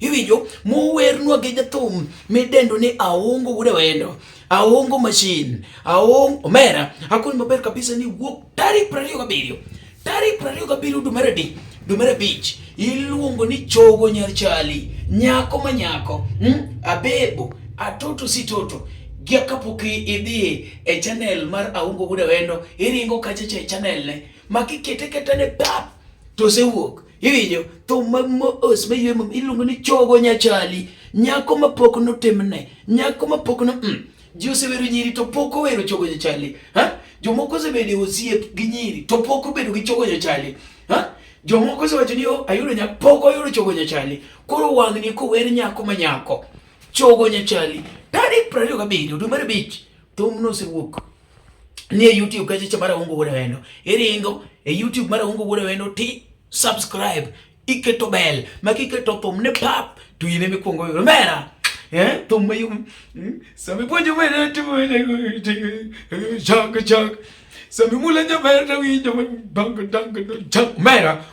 iwinjo mowernwa gi jathum midendo ni aongo wude wendo aongo machine aongo omera akoni maber kabisa ni wuok tarik prariyo gabiriyo tarik prariyo gabiriyo dwe mar adek dwe mar abich iluongo ni chogo nyar chali nyako ma nyako hmm? abebo atoto si toto gia kapok idhi e channel mar aongo wude wendo iringo kachacha e channel ne makikete kete ne pap to osewuok Iwinjo thum ma mos ma yue iluongo ni chogo nyachali, nyako ma pok notimne, nyako ma pok no mm. Ji osewero nyiri to pok owero chogo nyachali. Ha? Jomoko osebedo osiep gi nyiri to pok obedo gi chogo nyachali. Ha? Jomoko osewacho ni oh, ayudo nyako pok oyudo chogo nyachali. Koro wang'ni kower nyako ma nyako. Chogo nyachali. Tarik 27 dwe mar abich thumno osewuok. ni e YouTube kacheche mar Awongo Wuod Awendo, iringo e YouTube mar Awongo Wuod Awendo ti subscribe, iketo bell, ma kiketo thum ne pap to in ema ikwongo yudo mera eh thum mayom hmm? sama ipuonjo mera timo chok chok sama imula nyaber to winjo dongo dongo chok mera